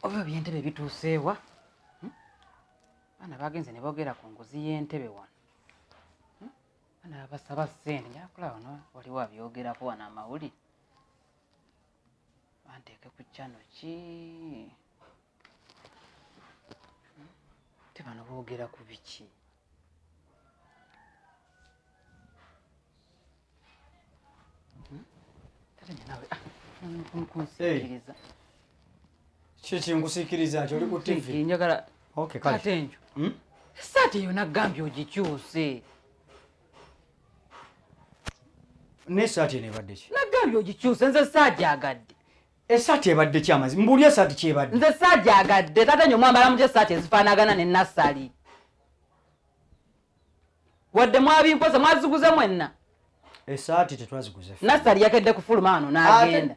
oba ebyentebe bituuseewa hmm? baana bagenze ne boogera ku nguzi y'entebe wano hmm? baana babasaba ssente njakula wano waliwo abyogerako wano amawuli banteeke ku kyano ki hmm? te bano boogera ku biki kiki nkusikiriza nti oli ku tv njagala kate enjo hmm? esaati eyo nagambye ogikyuse nesaati eno ebadde ki nagambye ogikyuse nze saajagadde Esaati ebadde ki amazima? Mbuulira esaati ky'ebadde. Nze saagyagadde, taata nyo mwambala mutya esaati ezifaanagana ne nassali? Wadde mwabimpoza mwaziguze mwenna? Esaati tetwaziguze. Nassali yakedde kufuluma wano n'agenda.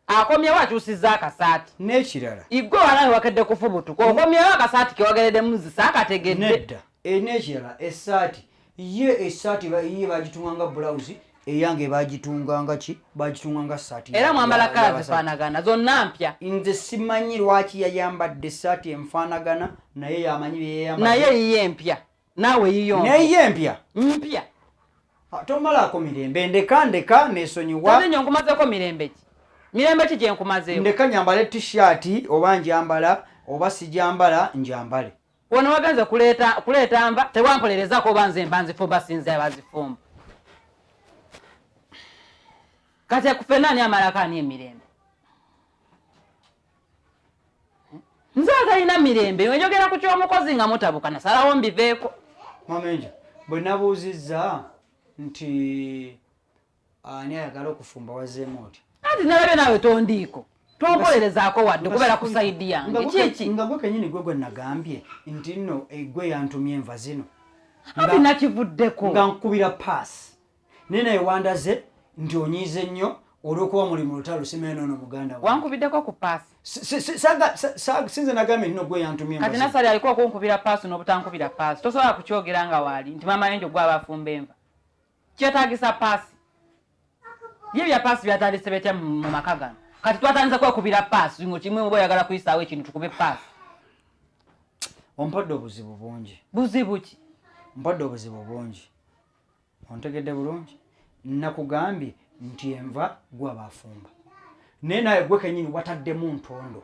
Akomyewo akyusizza akasaati. N'ekirala. Igwe wanawe wakedde kufubutuka. Okomyewo akasaati ke wageredemu zisa akategedde. Nedda. E, n'ekirala esaati ye esaati ye bagitunganga bulawuzi eyange bagitunganga ki bagitunganga saati era mwambala kala zifaanagana zonna mpya nze simanyi lwaki yayambadde esaati enfaanagana naye yamanyi byeyayamba naye yiye mpya naawe yiyo naye ye mpya mpya ah, tomalaako mirembe ndeka ndeka nesonyiwa nze nyo nkumazeko mirembe ki mirembe ki gyenkumazeyo ndeka nyambale tishiati oba njambala oba sijambala njambale Wano wagenze kuleeta kuleeta nva tewampolerezako oba nze mba nzifumba sinze abazifumba. Kati akufe nani amalako ani emirembe? Nze atalina mirembe oyogera ku ky'omukozi nga mutabuka nasalawo mbiveeko. Mama Enjo bwe nabuuzizza nti ani ayagala okufumba wazeemu otya anti nalabye naawe tondiiko tompolerezaako wadde kubeera ku saidi yange kiki nga gwe kenyini gwe gwe nagambye nti nno eh, gwe yantumye enva zino anti nakivuddeko nga nkubira paasi naye naye wandaze nti onyiize nnyo olwokuba muli mu lutalo simeeno ono muganda wankubiddeko ku paasi sinze nagambye nino gwe yantumye kati nasali aliko okunkubira paasi n'obutankubira paasi tosobola kukyogera nga waali nti maama yenjo gwe abafumba enva kyetagisa paasi bye bya paasi byatandise betya mu maka gano kati twatandise kwekubira paasi ngo kimwe oba oyagala kuyisaawo ekintu tukube paasi ompodde obuzibu bungi buzibu ki mpodde obuzibu bungi ontegedde bulungi nakugambye nti enva gwa bafumba naye naye gwe kenyini wataddemu ntondo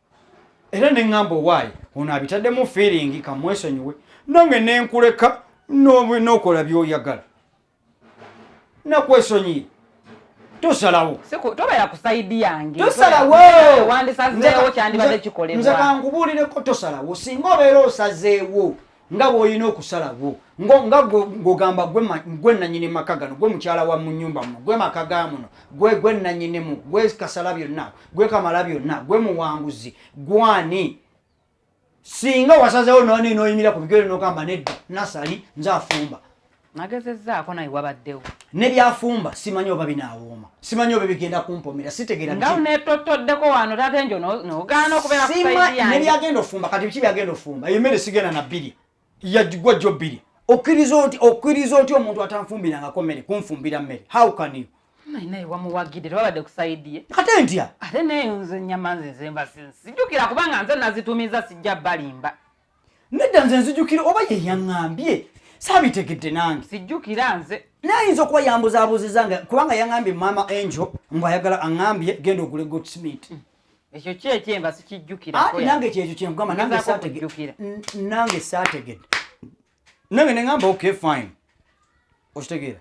era ne ŋŋamba owaayi ono abitaddemu fiiringi kamwesonyiwe nange ne nkuleka n'okola by'oyagala nakwesonyiye tosalawo tobeera ku sayidi yange tosalawowandisazeewo kyandibadde kikolebwa nze kankubuulireko tosalawo singa obeera osazeewo nga bwolina okusalawo nga ngogamba gwe nanyini maka gano gwe mukyala wa munyumba muno gwe maka ga muno gwe gwe nanyinimu gwe kasala byonna gwe kamala byonna gwe muwanguzi gwani singa wasazewo noninoyimira ku bigere nogamba nedda nasali nze afumba nagezezzaako naye wabaddewo ne byafumba simanyi oba binaawooma simanyi oba bigenda kumpomera sitegeera nga netottoddeko wano tate njo nogaana okubeera ne byagenda ofumba kati biki byagenda ofumba eyo mmere sigenda na bbiri yagwa jjo bbiri okkiriza oti okkiriza oti omuntu atanfumbirangako mmere kunfumbira mmere how can you naye wamuwagidde tewabadde kusaidiye ate ntya ate neyo nze nyama nze nzemba sijukira kubanga nze nazitumiza sijja balimba nedda nze nzijukira oba ye yaŋŋambye saabitegedde nange sijjukira nze nayinza okuba yambuzabuziza nga kubanga yaŋambye maama angel mbu ayagala aŋambye genda ogule good smith mm. ekyo kyekyemba sikijjukira ati nange kyekyo kyenkugamba nange saategedde nange saategedde nange neŋamba okay fine okitegeera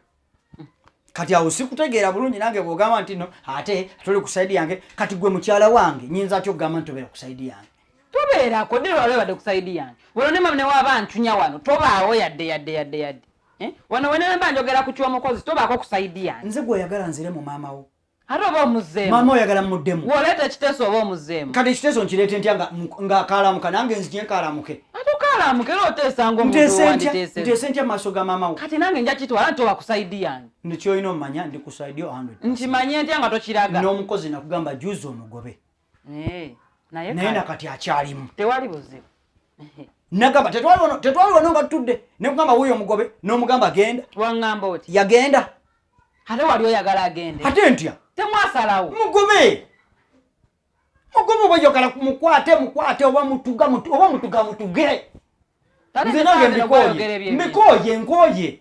kati awo sikutegeera bulungi nange bwogamba nti no ate tuli ku saidi yange kati gwe mukyala wange nyinza atya okugamba nti tobeera ku saidi yange tobeerako dde lwaba ebadde ku saidi yange wano ne mama newaba ntunya wano tobaawo yadde yadde yadde yadde eh? wano wenemba njogera ku kyomukozi tobaako ku saidi yange nze gweoyagala nzire mu maama wo ate oba omuzeemu maama oyagala muddemu woleeta ekiteeso oba omuzeemu kati ekiteeso nkireete ntya nga akaalamuka nange nzije nkaalamuke ate okaalamuke era oteesa ngaomuteese ntya maaso ga maama wo kati nange nja kitwala nti oba kusaidi yange nekyoyina omumanya ndi kusaidi nkimanye ntya nga tokiraga n'omukozi nakugamba juzi omugobe Eh, naye nakati akyalimu tewali buzibu nagamba tetwali wano nga tutudde nekugamba wuyo omugobe nomugamba genda wangamba oti yagenda ate wali oyagala agende ate ntya temwasalawo mugobe mugobe oba oyagala mukwate mukwate oba mutuga oba mutuga mutuge nze nange mbikoye mbikoye nkoye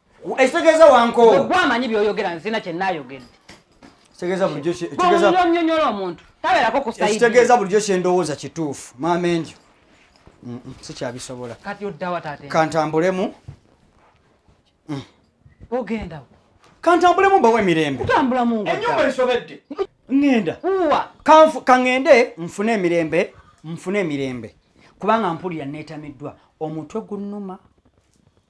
ekitegeeza wankoowa gwe amanyi byoyogera nzina kye nayogedde kitegeeza bulijjo kitegeeza omuntu tabeerako kusaidi ekitegeeza bulijjo kye ndowooza kituufu maama enjo sikyabisobola kati oddawa taata kantambulemu mm. ogendawo kantambulemu mbawo emirembe kutambula mu enyumba esobedde ngenda uwa kanfu kangende mfune emirembe mfune emirembe kubanga mpulira netamiddwa omutwe gunnuma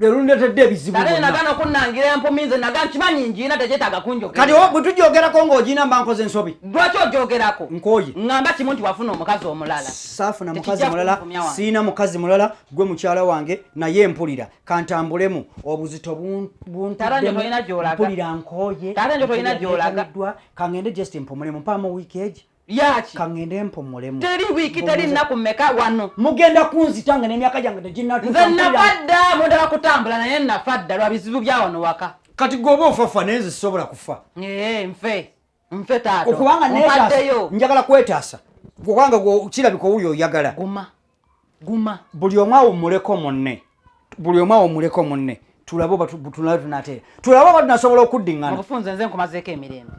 lwelundetedde ebizibu nze nagana okunangira empumi nze naga nkimanyi njiina tegyetaaga kunjogera kati bwe tugyogerako ng'ogiina mba nkoze ensobi lwaki ogyogerako nkoye ngamba kimu nti wafuna omukazi omulala saafuna mukazi mulala siina mukazi mulala gwe mukyala wange naye mpulira kantambulemu obuzito buntaddempulira nkoye kangende just mpumulemu mpaamu wiiki egi yaki kangende mpumulemu teri wiki teri nnaku mmeka wano mugenda kunzita nga n'emyaka gyange teginnatuka nze nafadda mudala kutambula naye nafadda lwa bizibu bya wano waka kati goba ofafa naye nze sisobola kufa ee eh, nfe nfe taata okubanga neetaasa njagala kwetaasa kubanga kirabika owuli oyagala guma guma buli omu awummuleko munne buli omu awummuleko munne tulabe oba tunala tunateera tulabe oba tunasobola okuddiŋŋana obufunze nze nkumazeeko emirembe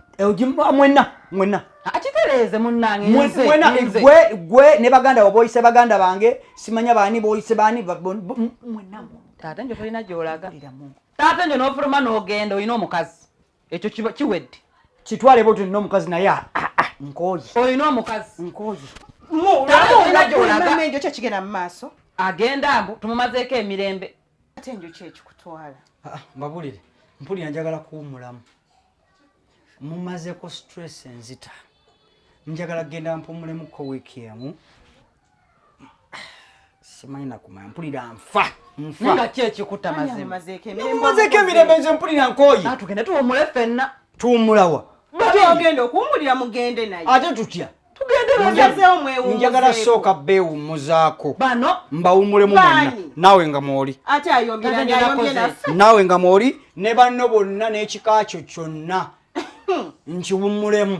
ah, mwenna mwenna ah, akitereeze munnangegwe gwe ne baganda bo boyise baganda bange simanya baani boyise baani mwenna taata njo tolina gyolaga taata njo n'ofuluma n'ogenda olina omukazi ekyo kiba kiwedde kitwale bwotyo nina omukazi naye ah, ah, ah, nkooye olina omukazi nkooye enjo kyekigenda mu maaso agenda mbu tumumazeeko emirembe ate enjo kyekikutwala mbabulire mpulira njagala kuwumulamu mumazeko stress enzita njagala kugenda mpumulemuko wiiki emu simanyi nakumanya mpulira nfa nfa ki ekikuta mazimazeko emirembe nze mpulira nkoye ah, tugende tuwumule fenna tuwumulawa agenda okuwumulira mugende naye ate tutya njagala sooka beewummuzaako mbawummulemu mwenna naawe nga mwoli naawe nga mwoli ne banno bonna n'ekika kyo kyonna nkiwummulemu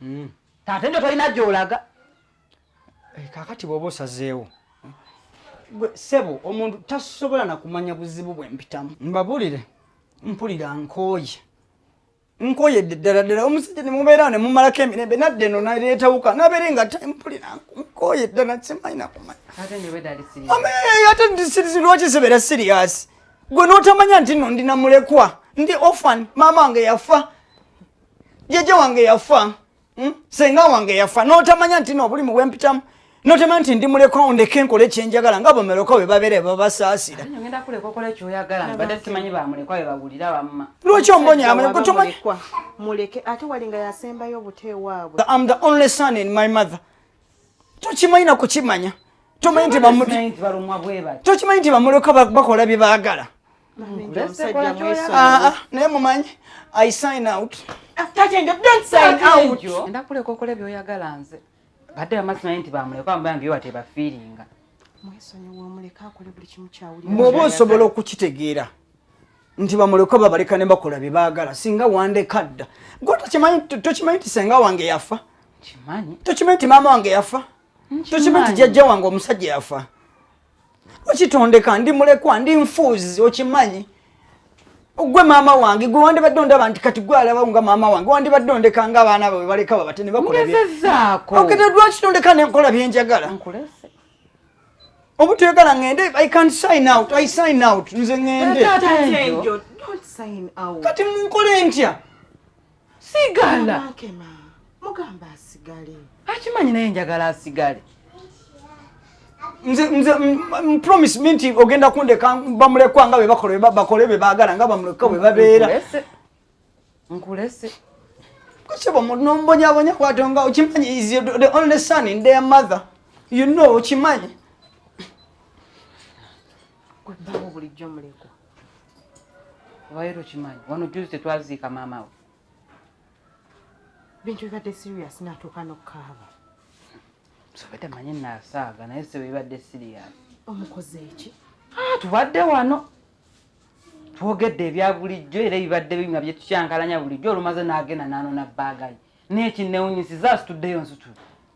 mm. taata njo tolina gyolaga eh, kakati bwoba osazeewo gwe sebo omuntu tasobola nakumanya buzibu bwempitamu mbabulire mpulira nkooye nkoyedde ddala ddala omusajja ne mubeera ne mumalako emirembe nadde eno naleetawuka nabeere nga tempulira nkoye ddala simanyi nakumanyaate lwaki sibeera siriyasi gwe n'otamanya nti no ndi namulekwa ndi ofan maama wange yafa jajja wange yafa hmm? senga wange yafa notamanya nti nobulimu bwempitamu notamanya nti ndi mulekwa ondeke nkole kyenjagala nga bomeroka we babere babasaasira lwaki ombonya am the only son in my mother tokimanyi nakukimanya tomanyi nti bamuleka bakola bye baagala Ah, ah, naye mumanyi i sign out ah, ndakuleka okola byoyagala nze badde bamazi naye nti bamuleka ambayange yo watebafiiringa bwoba osobola okukitegeera nti bamuleka babaleka ne bakola bye baagala singa wandeka dda gwe tokimanyi nti senga wange yafa tokimanyi nti maama wange yafa tokimanyi nti jajja wange omusajja yafa okitondeka ndi mulekwa ndi nfuuzi okimanyi gwe maama wange gwe wandibadde ondaba nti kati gwe alaba nga maama wange wandibadde ondeka nga abaana bawe baleka babate ne bakulaokete lwaki tondeka nenkola byenjagala obutuyagala ngende i can sign out i sign out nze ngende kati munkole ntya sigala mugamba asigale akimanyi naye njagala asigale nze nze promise me nti ogenda kundeka bamulekwa nga bebakole bakole bebagala nga bamulekwa bwebabeera nkulese kusiba munombonyabonya kwatonga okimanyi is the only son in their mother you know okimanyi gwebawo bulijjo mulekwa Waero kimanyi wano juzi tetwaziika maama we bintu bibadde serious natuuka nokukaaba sobadde manyi nasaaga naye sebo bibadde serious omukoze eki ah, tubadde wano twogedde ebya bulijjo era ebibadde binyuma byetukyankalanya bulijjo olumaze nagenda nanona baagayi nekinewunyisiza asituddeyo nsitula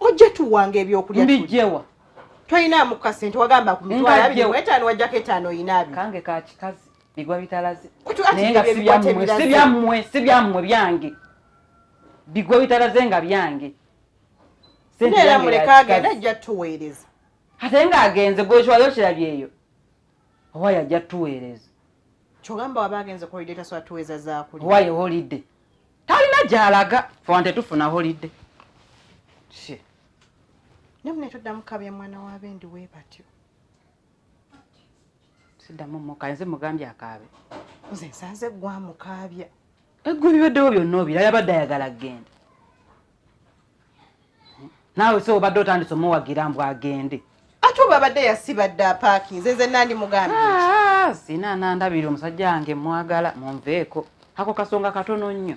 ojja tuwanga ebyokulya mbijewa toyina mukasi nti wagamba ku mitwalo abiri mu etaano wajjako etaano oyina abiri kange ka kikazi bigwa bitalaze naye nga sibyammwe sibyammwe byange bigwa bitalaze nga byange era muleka agenda ajja tuweereza ate nga agenze gwekiwayo kirabyeyo owaye ajja tuweereza kyogamba waba agenze kuholiday tasobola tuweeza zakulya owaye holiday talina gyalaga fewante tufuna holidde nemune toddamu kabya mwana wa bendi we batyo siddamu muka nze mugambye akaabe nze nsanze gwamukaabya eggwe bibaddewo byonna obira yabadde ayagala genda naawe se obadde otandise omuwagira mbu agende ate oba abadde yasibadde apaakinze nze nandi mugambi ah, sina nandabira omusajja wange mwagala munveeko ako kasonga katono nnyo